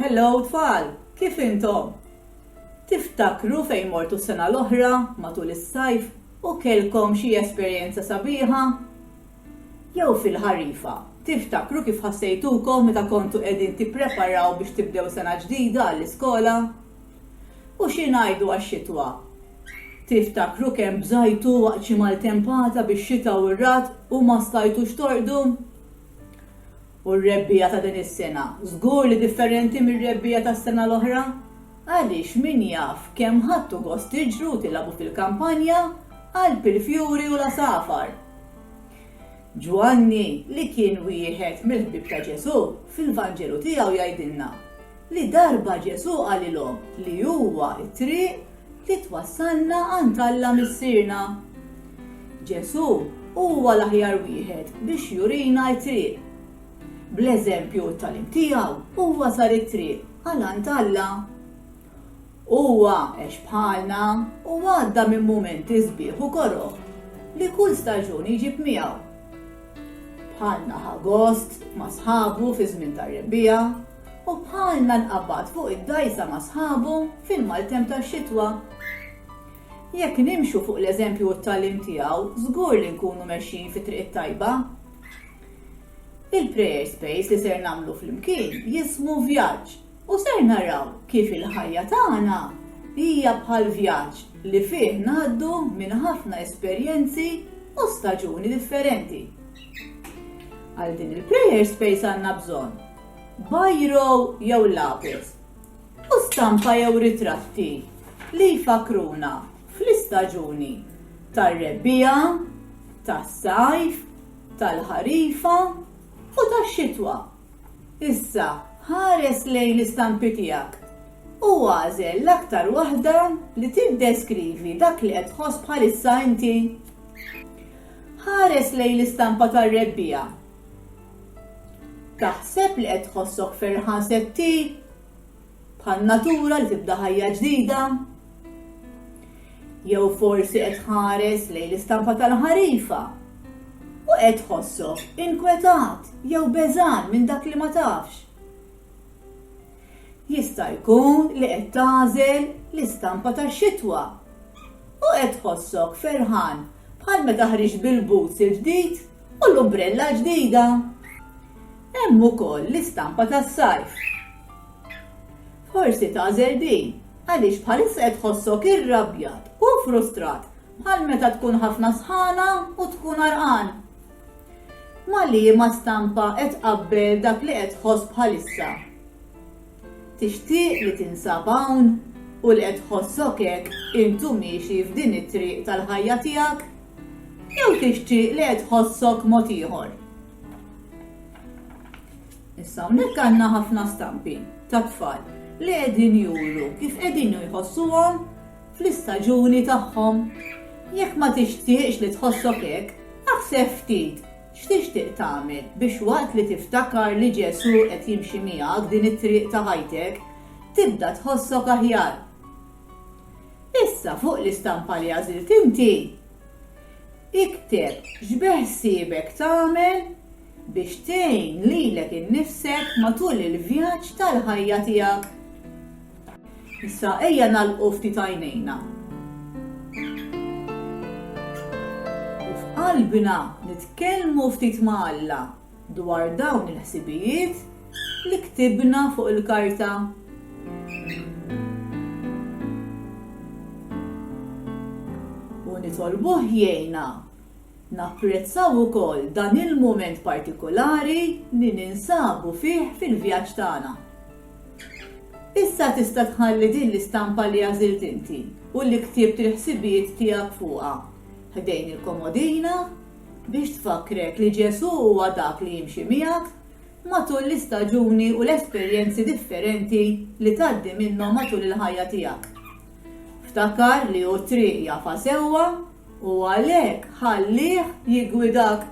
Hello tfal, kif intom? Tiftakru fejn mortu s-sena l-oħra matul is-sajf u kellkom xi esperjenza sabiħa? Jew fil-ħarifa, tiftakru kif ħassejtukom meta kontu qegħdin tippreparaw biex tibdew sena ġdida għall-iskola? U xi ngħidu għax-xitwa? Tiftakru kemm bżajtu waqt xi maltempata bix-xita u r-ragħad u ma stajtux torqdu? U r-rebbiegħa ta' din is-sena? Żgur li differenti mir-rebbiegħa tas-sena l-oħra, għaliex min jaf kemm ħadtu gost tiġru u tilgħabu fil-kampanja, qalb il-fjuri u l-għasafar! Ġwanni, li kien wieħed mill-ħbieb ta' Ġesù, fil-Vanġelu tiegħu jgħidilna, li darba Ġesù qalilhom li huwa t-triq li twassalna għand Alla Missierna. Ġesù huwa l-aħjar wieħed biex jurina t-triq. Bl-eżempju u t-tagħlim tiegħu huwa sar it-triq għal għand Alla. Huwa għex bħalna u għadda minn mumenti sbieħ u koroh li kull staġun iġib miegħu. Bħalna ħa gost ma' sħabu fiż-żmien tar-rebbiegħa, U bħalna nqabad fuq id-dgħajsa ma' sħabu fil-maltemp tax-xitwa. Jekk nimxu fuq l-eżempju u t-tagħlim tiegħu, żgur li nkunu mexjin fit-triq it-tajba. Il-Prayer Space li ser nagħmlu flimkien jismu Vjaġġ u ser naraw kif il-ħajja tagħna hija bħal vjaġġ li fih ngħaddu minn ħafna esperjenzi u staġuni differenti. Għal din il-Prayer Space għandna bżonn bajro jew lapis, u stampa jew ritratti li jfakkruna fl-istaġuni tar-rebbiegħa, tas-sajf, tal-ħarifa u tax-xitwa. Issa ħares lejn l-istampi tiegħek u agħżel l-aktar waħda li tiddeskrivi dak li qed tħoss bħalissa inti. Ħares lejn l-istampa tar-rebbiegħa. Taħseb li qed tħossok ferħan se ttih bħan-natura li tibda ħajja ġdida? Jew forsi qed tħares lejn l-istampa tal-ħarifa u qed tħossok inkwetat jew beżgħan minn dak li ma tafx? Jista' jkun li qed tagħżel l-istampa tax-xitwa u qed tħossok ferħan bħal meta ħriġt bil-boots il-ġdid U l-umbrella ġdida. Hemm ukoll l-istampa tas-sajf. Forsi tagħżel din għaliex bħalissa qed tħossok irrabjat u frustrat bħal meta tkun ħafna sħana u tkun għarqan. Ma' liema stampa qed tqabbel dak li qed tħoss bħalissa? Tixtieq li tinsab hawn? U li qed tħossok hekk int u miexi f'din it-triq tal-ħajja tiegħek? Jew tixtieq li qed tħossok mod ieħor? Issa hawnhekk għandna ħafna stampi ta' tfal li qegħdin juru kif qegħdin jħossuhom fl-istaġuni tagħhom. Jekk ma tixtieqx li tħossok hekk, aħseb ftit X'tixtieq tagħmel biex waqt li tiftakar li Ġesù qed jimxi miegħek din it-triq ta' ħajtek, tibda tħossok aħjar? Issa fuq l-istampa li għażilt inti, ikteb x'beħsiebek tagħmel biex tgħin lilek innifsek matul il-vjaġġ tal-ħajja tiegħek. Issa ejja nagħlqu ftit għajnejna. U f'qalbna nitkellmu ftit ma' Alla dwar dawn il-ħsibijiet li ktibna fuq il-karta. U nitolbuh jgħinna napprezzaw ukoll dan il-mument partikolari li ninsabu fih fil-vjaġġ tagħna. Issa tista' tħalli din l-istampa li għażilt inti u li ktibt il-ħsibijiet tiegħek fuqha ħdejn il-komodina biex tfakkrek li Ġesù huwa dak li jimxi miegħek matul l-istaġuni u l-esperjenzi differenti li tgħaddi minnhom matul il-ħajja tiegħek. Ftakar li hu t-triq jafha sewwa u għalhekk ħallih jiggwidak.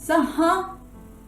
Saħħa!